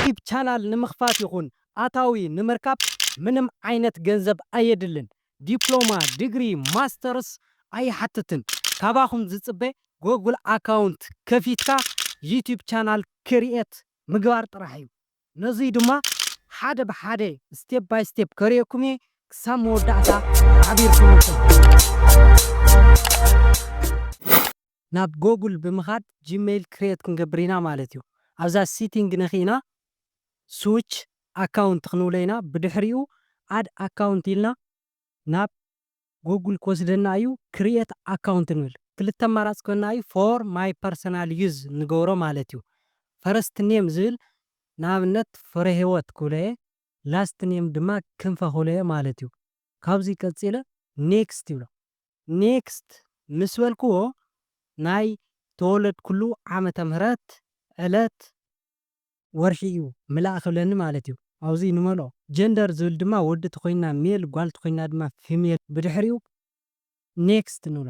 ዪትብ ቻናል ንምኽፋት ይኹን ኣታዊ ንምርካብ ምንም ዓይነት ገንዘብ ኣየድልን ዲፕሎማ ድግሪ ማስተርስ ኣይሓትትን ካባኹም ዝፅበ ጎግል ኣካውንት ከፊትካ ዪትብ ቻናል ክርኤት ምግባር ጥራሕ እዩ ነዙይ ድማ ሓደ ብሓደ ስቴፕ ባይ ስቴፕ ከርእየኩም እየ ክሳብ መወዳእታ ሓቢርኩምኒ። ናብ ጎጉል ብምኻድ ጂመይል ክርየት ክንገብር ኢና ማለት እዩ ኣብዛ ሲቲንግ ነኪእና ስውች ኣካውንት ክንብሎ ኢና ብድሕሪኡ ኣድ ኣካውንት ኢልና ናብ ጎጉል ክወስደና እዩ ክርየት ኣካውንት ንብል ክልተ ኣማራፂ ክበና እዩ ፎር ማይ ፐርሰናል ዩዝ ንገብሮ ማለት እዩ ፈረስት ኔም ዝብል ንኣብነት ፍረሂወት ክብሎ እየ ላስት ኔም ድማ ክንፈ ክብሎ እየ ማለት እዩ ካብዚ ቀጺለ Next ይብሎ። Next ምስ በልክዎ ናይ ተወለድኩሉ ዓመተ ምህረት፣ ዕለት፣ ወርሒ እዩ ምላእ ክብለኒ ማለት እዩ። ኣብዚ ንመልኦ። Gender ዝብል ድማ ወዲ ተኾይንና Male ጓል ተኾይንና ድማ Female ብድሕሪኡ Next ንብሎ።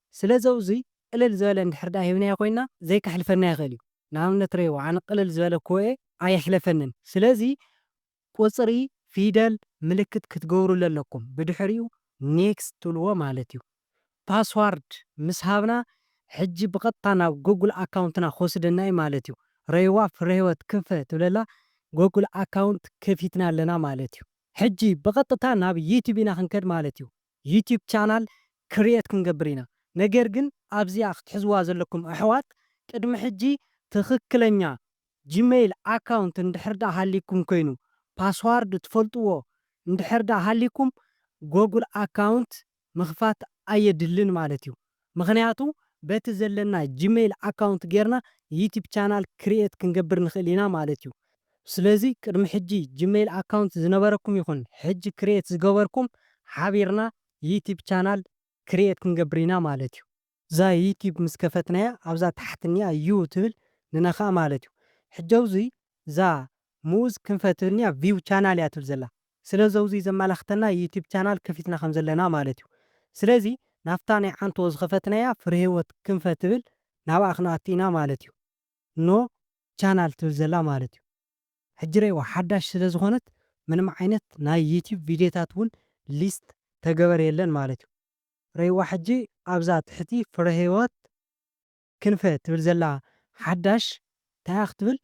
ስለዚ ኣውዙይ ቅልል ዝበለ እንድሕር ድኣ ሂብናዮ ኮይንና ዘይከሕልፈና ይኽእል እዩ። ንኣብነት ርእይዎ ኣነ ቅልል ዝበለ ኩወኤ ኣየሕለፈንን። ስለዚ ቁጽሪ፣ ፊደል፣ ምልክት ክትገብሩሉ ኣለኩም ብድሕሪኡ Next ትብልዎ ማለት እዩ። Password ምስ ሃብና ሕጂ ብቐጥታ ናብ Google ኣካውንትና ክወስደና እዩ ማለት እዩ። ርእይዋ ፍረህይወት ክንፈ ትብለላ Google ኣካውንት ከፊትና ኣለና ማለት እዩ። ሕጂ ብቐጥታ ናብ YouTube ኢና ክንከድ ማለት እዩ። ዩቱብ ቻናል ክርየት ክንገብር ኢና ነገር ግን ኣብዚኣ ክትሕዝዋ ዘለኩም ኣሕዋት ቅድሚ ሕጂ ትክክለኛ ጅመይል ኣካውንት እንድሕር ደኣ ሃልይኩም ኮይኑ ፓስዋርድ ትፈልጥዎ እንድሕር ደኣ ሃልይኩም ጎጉል ኣካውንት ምክፋት ኣየድልን ማለት እዩ ምኽንያቱ በቲ ዘለና ጂመይል ኣካውንት ጌርና ዩቲብ ቻናል ክርኤት ክንገብር ንኽእል ኢና ማለት ዩ ስለዚ ቅድሚ ሕጂ ጂመይል ኣካውንት ዝነበረኩም ይኹን ሕጂ ክርኤት ዝገበርኩም ሓቢርና ዩቲብ ቻናል ክርኤት ክንገብር ኢና ማለት ዩ። እዛ ዩቲብ ምስ ከፈትናያ ኣብዛ ታሕቲ እኒኣ ዩ ትብል ንነኽኣ ማለት ዩ ሕጂ ኣብዙይ እዛ ምኡዝ ክንፈ ትብል እኒኣ ቪው ቻናል እያ ትብል ዘላ ስለ ዘውዙይ ዘማላክተና ዩቱብ ቻናል ከፊትና ከም ዘለና ማለት እዩ ስለዚ ናፍታ ናይ ዓንቶ ዝከፈትናያ ፍሬህይወት ክንፈ ትብል ናብኣ ክንኣቱ ኢና ማለት እዩ ን ቻናል ትብል ዘላ ማለት እዩ ሕጂ ረይዋ ሓዳሽ ስለ ዝኮነት ምንም ዓይነት ናይ ዩቱብ ቪድዮታት ውን ሊስት ተገበር የለን ማለት እዩ ረይዋ ሕጂ ኣብዛ ትሕቲ ፍሬህይወት ክንፈ ትብል ዘላ ሓዳሽ ታይ እያ ክትብል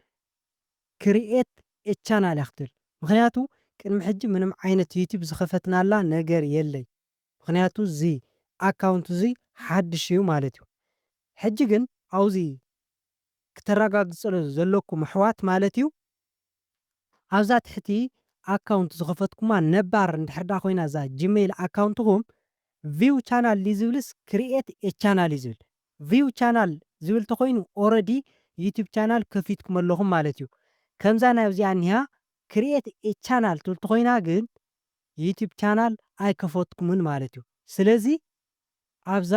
create a channel እያ ክትብል ምክንያቱ ቅድሚ ሕጂ ምንም ዓይነት ዩቱብ ዝከፈትናላ ነገር የለይ ምክንያቱ እዚ ኣካውንት እዙይ ሓድሽ እዩ ማለት እዩ ሕጂ ግን ኣውዚ ክተራጋግፅሉ ዘለኩም ኣሕዋት ማለት እዩ ኣብዛ ትሕቲ ኣካውንት ዝኸፈትኩማ ነባር እንድሕር ደኣ ኮይና እዛ ጂመይል ኣካውንትኹም ቪው ቻናል ድዩ ዝብልስ ክሪኤት ኤ ቻናል እዩ ዝብል ቪው ቻናል ዝብል ተኾይኑ ኦረዲ ዩቱብ ቻናል ከፊትኩም ኣለኹም ማለት እዩ ከምዛ ናይ ኣብዚኣ እኒሃ ክሪኤት ኤ ቻናል ትብል ተኾይና ግን ዩቱብ ቻናል ኣይከፈትኩምን ማለት እዩ ስለዚ ኣብዛ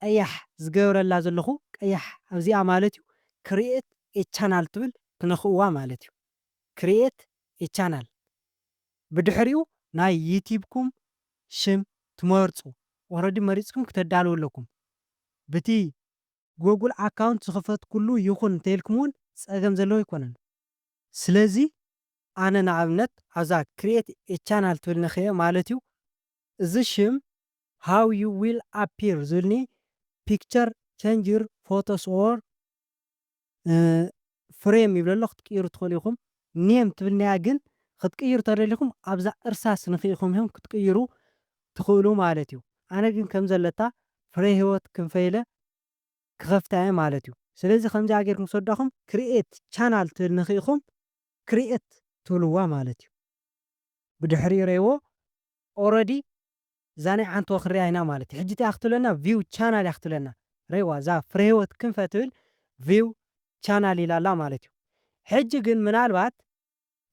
ቀያሕ ዝገብረላ ዘለኹ ቀያሕ ኣብዚኣ ማለት እዩ Create a Channel ትብል ትነኽእዋ ማለት እዩ Create a Channel ብድሕሪኡ ናይ ዩቲብኩም ሽም ትመርጹ Already መሪጽኩም ክተዳልዉ ኣለኩም ብቲ Google Account ዝኸፈትኩሉ ይኹን እንተኢልኩም እውን ጸገም ዘለዎ ኣይኮነን። ስለዚ ኣነ ንኣብነት ኣብዛ Create a Channel ትብል ነኽእየ ማለት እዩ እዚ ሽም How You Will Appear ዝብልኒ Picture Changer Photos or Frame ይብል ኣሎ ክትቅይሩ ትኽእሉ ኢኹም። Name ትብልኒ'ያ ግን ክትቅይሩ ተደሊኹም ኣብዛ እርሳስ ንኺኢኹም ኢኹም ክትቅይሩ ትኽእሉ ማለት'ዩ። ኣነ ግን ከም ዘለታ ፍሬህይወት ክንፈ ኢለ ክኸፍታ'የ ማለት'ዩ። ስለዚ ከምዚኣ ጌርኩም ምስ ወዳኹም Create Channel ትብል ንኺኢኹም Create ትብልዋ ማለት'ዩ። ብድሕሪ ሬዎ ኦረዲ እዛ ናይ ዓንተቦ ክንሪኣ ኢና ማለት እዩ ሕጂ እቲኣ ክትብለና ቪው ቻናል እያ ክትብለና ሬዋ እዛ ፍሬህይወት ክንፈ ትብል ቪው ቻናል ኢላ ኣላ ማለት እዩ ሕጂ ግን ምናልባት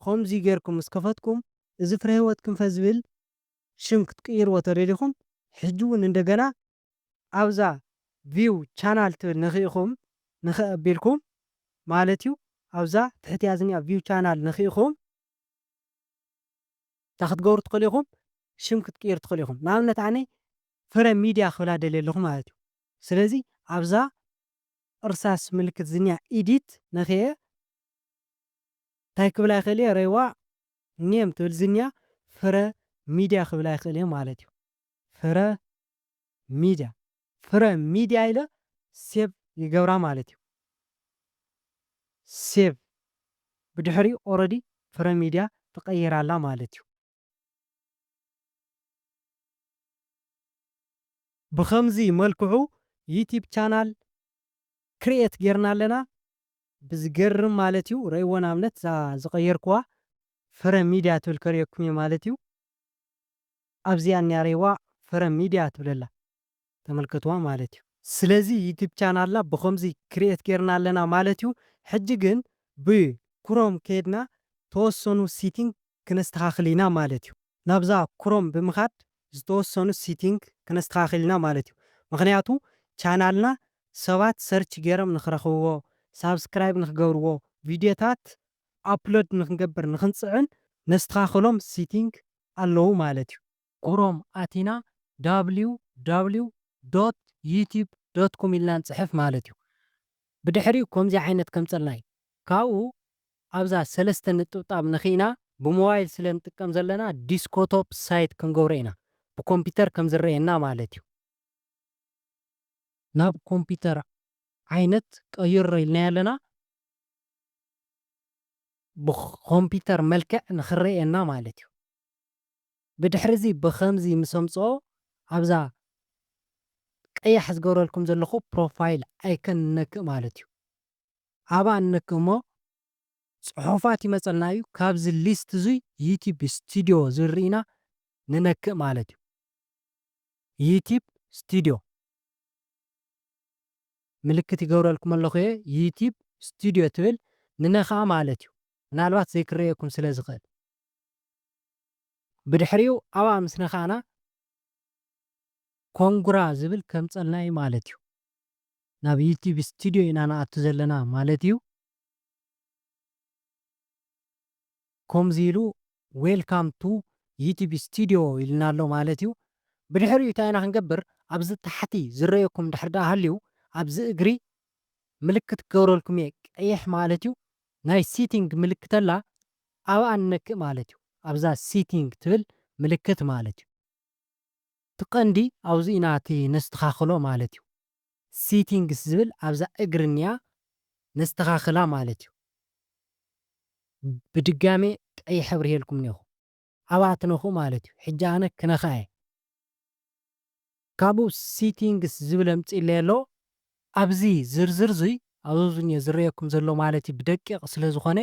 ኸምዚ ጌርኩም ምስ ከፈትኩም እዚ ፍሬህይወት ክንፈ ዝብል ሽም ክትቅይርዎ ተደሊኹም ሕጂ ውን እንደገና ኣብዛ ቪው ቻናል ትብል ነኺእኹም ንኽእ ኣቢልኩም ማለት እዩ ኣብዛ ትሕቲኣ ዝኒኣ ቪው ቻናል ነኺእኹም እንታይ ክትገብሩ ትኽእሉ ኢኹም? ሽም ክትቅይሩ ትኽእሉ ኢኹም። ንኣብነት ኣነ ፍረ ሚድያ ክብላ ደልየ ኣለኹ ማለት እዩ። ስለዚ ኣብዛ እርሳስ ምልክት ዝኒኣ Edit ነክየ እንታይ ክብላ ይኽእል እየ? ሬዋ Name ትብል ዝኒኣ ፍረ ሚድያ ክብላ ይኽእል እየ ማለት እዩ። ፍረ ሚድያ ፍረ ሚድያ ኢለ ሴቭ ይገብራ ማለት እዩ ሴቭ ብድሕሪኡ ኦረዲ ፍረ ሚድያ ተቀይራላ ማለት እዩ። ብከምዚ መልክዑ ዩቲብ ቻናል ክርኤት ጌርና ኣለና ብዝገርም ማለት እዩ ረእይዎ ንኣብነት እዛ ዝቀየርክዋ ፍረ ሚድያ ትብል ከሪኤኩም እየ ማለት እዩ። ኣብዚኣ እኒኣ ሬዋ ፍረ ሚድያ ትብለላ ተመልከትዋ ማለት እዩ። ስለዚ ዩቱብ ቻናልና ብኸምዚ ክርኤት ጌርና ኣለና ማለት እዩ። ሕጂ ግን ብ ክሮም ከይድና ተወሰኑ ሲቲንግ ክነስተኻኽል ኢና ማለት እዩ። ናብዛ ክሮም ብምኻድ ዝተወሰኑ ሲቲንግ ክነስተኻኽል ኢና ማለት እዩ። ምኽንያቱ ቻናልና ሰባት ሰርች ጌሮም ንኽረኽብዎ፣ ሳብስክራይብ ንኽገብርዎ፣ ቪድዮታት ኣፕሎድ ንኽንገብር ንኽንፅዕን ነስተኻኽሎም ሲቲንግ ኣለዉ ማለት እዩ። Chrome ኣቲና www dot youtube dot com ኢልና ንጽሕፍ ማለት እዩ። ብድሕሪኡ ከምዚ ዓይነት ከምጸልና እዩ። ካብኡ ኣብዛ ሰለስተ ንጥብጣብ ነኺእና ብሞባይል ስለ ንጥቀም ዘለና ዲስኮቶፕ ሳይት ክንገብሮ ኢና። ብኮምፒተር ከም ዝረኣየና ማለት እዩ። ናብ ኮምፒተር ዓይነት ቀይሮ ኢልናዮ ኣለና። ብኮምፒተር መልክዕ ንክረኤና ማለት እዩ ብድሕሪ እዚ ብከምዚ ምስ ኣምጽኦ ኣብዛ ቀያሕ ዝገብረልኩም ዘለኩ ፕሮፋይል ኣይከን ንነክእ ማለት እዩ ኣብኣ ንነክእ እሞ ጽሑፋት ይመጸልና እዩ ካብዚ ሊስት እዙይ ዩቲብ ስቲድዮ ዝብል ሪኢና ንነክእ ማለት እዩ ዩቲብ ስቲድዮ። ምልክት ይገብረልኩም ኣለኹ እየ ዩቲብ ስቱድዮ ትብል ንነክኣ ማለት እዩ ምናልባት ዘይክረኤኩም ስለ ዝኽእል ብድሕሪኡ ኣብኣ ምስ ነካእና ኮንግራ ዝብል ከምፀልና እዩ ማለት እዩ ናብ ዩቲብ ስቱድዮ ኢና ንኣቱ ዘለና ማለት እዩ። ኮምዚ ኢሉ ዌልካም ቱ ዩቲብ ስቲድዮ ኢሉና ኣሎ ማለት እዩ ብድሕሪኡ ታይ ኢና ክንገብር ኣብዚ ታሕቲ ዝረኤኩም ድሕሪ ዳኣ ሃልዩ ኣብዚ እግሪ ምልክት ክገብረልኩም እየ ቀይሕ ማለት እዩ ናይ ሲቲንግ ምልክት ኣላ ኣብኣ ንነክእ ማለት እዩ ኣብዛ ሲቲንግ ትብል ምልክት ማለት እዩ እቲ ቀንዲ ኣብዙ ኢና እቲ ነስተካክሎ ማለት እዩ። Settings ዝብል ኣብዛ እግሪ እንያ ነስተኻኽላ ማለት እዩ። ብድጋሜ ቀይሕ ኣብሪሄልኩም እኔኹ። ኣብኣ ትነኽኡ ማለት እዩ። ሕጂ ኣነ ክነኽኣ እየ። ካብኡ Settings ዝብል ኣምጺእለይ ኣሎ። ኣብዚ ዝርዝር እዙይ ኣብዙዝኘ ዝረኤኩም ዘሎ ማለት እዩ ብደቂቕ ስለ ዝኾነ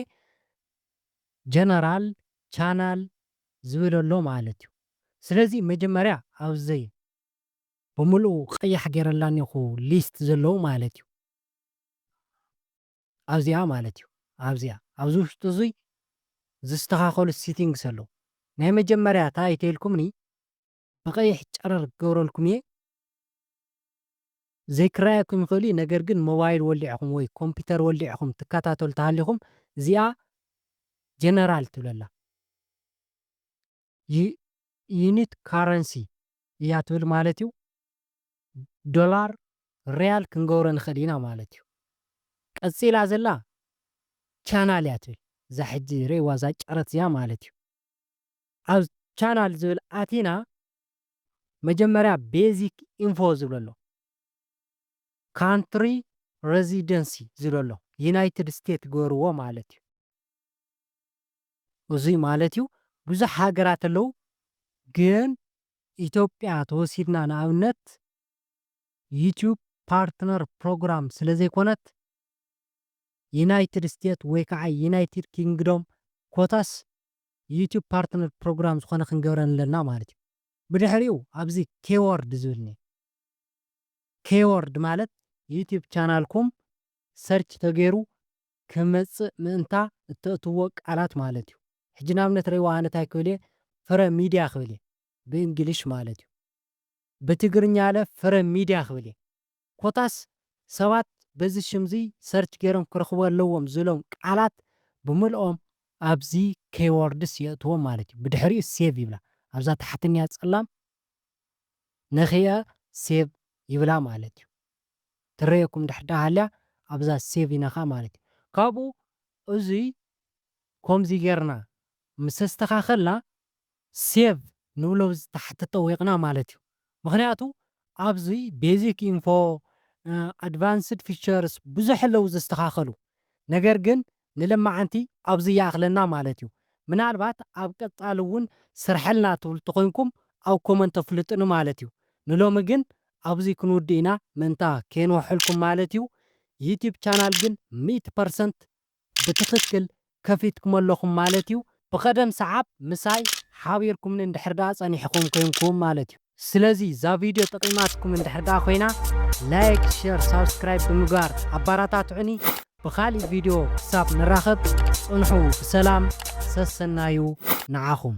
General Channel ዝብል ኣሎ ማለት እዩ። ስለዚ መጀመርያ ኣብዙይ። ብምሉኡ ቀያሕ ጌረላ እኔኹ ሊስት ዘለዉ ማለት እዩ ኣብዚኣ ማለት እዩ ኣብዚኣ ኣብዚ ውሽጢ እዙይ ዝስተኻኸሉ ሲቲንግስ ኣለዉ ናይ መጀመርያ ታይ ተይልኩምኒ ብቀይሕ ጨረር ክገብረልኩም እየ ዘይክረኣየኩም ይኽእል እዩ ነገር ግን ሞባይል ወሊዕኹም ወይ ኮምፒተር ወሊዕኹም ትከታተሉ ተሃሊኹም እዚኣ ጀነራል ትብለላ ዩኒት ካረንሲ እያ ትብል ማለት እዩ። ዶላር ሪያል ክንገብሮ ንኽእል ኢና ማለት እዩ። ቀጺላ ዘላ ቻናል እያ ትብል እዛ ሕጂ ርእይዋ እዛ ጨረት እዚኣ ማለት እዩ። ኣብ ቻናል ዝብል ኣቲና መጀመርያ ቤዚክ ኢንፎ ዝብል ኣሎ ካንትሪ ረዚደንሲ ዝብል ኣሎ ዩናይትድ ስቴት ግበርዎ ማለት እዩ። እዙይ ማለት እዩ ብዙሕ ሃገራት ኣለው ግን ኢትዮጵያ ተወሲድና ንኣብነት ዩቱብ ፓርትነር ፕሮግራም ስለዘይኮነት ዩናይትድ ስቴት ወይ ከዓ ዩናይትድ ኪንግዶም ኮታስ ዩቱብ ፓርትነር ፕሮግራም ዝኾነ ክንገብረን ኣለና ማለት እዩ። ብድሕሪኡ ኣብዚ ኬዎርድ ዝብል እኒኦ ኬዎርድ ማለት ዩቱብ ቻናልኩም ሰርች ተገይሩ ክመጽእ ምእንታ እተእትዎ ቃላት ማለት እዩ። ሕጂ ንኣብነት ሬዋ ኣነ ታይ ክብል እየ ፍረ ሚድያ ክብል እየ ብእንግሊሽ ማለት እዩ። ብትግርኛለ ፍረ ሚድያ ክብል እየ። ኮታስ ሰባት በዚ ሽም እዚ ሰርች ገይሮም ክረኽቡ ኣለዎም ዝሎም ቃላት ብምልኦም ኣብዚ ኬይዎርድስ የእትዎም ማለት እዩ። ብድሕሪኡ ሴቭ ይብላ ኣብዛ ታሕተኛ ጸላም ነኺኣ ሴቭ ይብላ ማለት እዩ። ትረየኩም ድሕር ሃልያ ኣብዛ ሴቭ ኢናኻ ማለት እዩ ካብኡ እዙይ ኮምዚ ገርና ምስ ኣስተኻኸልና ሴቭ ንብሎ ኣብዚ ታሕቲ ጠዊቕና ማለት እዩ ምኽንያቱ ኣብዙይ ቤዚክ ኢንፎ ኣድቫንስድ ፊቸርስ ብዙሕ ኣለው ዘስተኻኸሉ ነገር ግን ንለማዓንቲ ኣብዚ ይኣኽለና ማለት እዩ ምናልባት ኣብ ቀጻሊ እውን ስርሐልና ትብሉ ተኾይንኩም ኣብ ኮመንት ኣፍልጡኒ ማለት እዩ ንሎሚ ግን ኣብዚ ክንውድእ ኢና ምእንታ ከየንውሐልኩም ማለት እዩ ዩቱብ ቻናል ግን ሚእቲ ፐርሰንት ብትኽክል ከፊትክሞ ኣለኹም ማለት እዩ ብቐደም ሰዓብ ምሳይ ሓቢርኩምኒ እንድሕር ድኣ ጸኒሕኹም ኮይንኩም ማለት እዩ። ስለዚ እዛ ቪድዮ ጠቂማትኩም እንድሕር ደኣ ኮይና ላይክ ሸር ሳብስክራይብ ብምግባር ኣባራታትዑኒ ብካሊእ ቪድዮ ክሳብ ንራከብ ጽንሑ ብሰላም ሰሰናዩ ንዓኹም።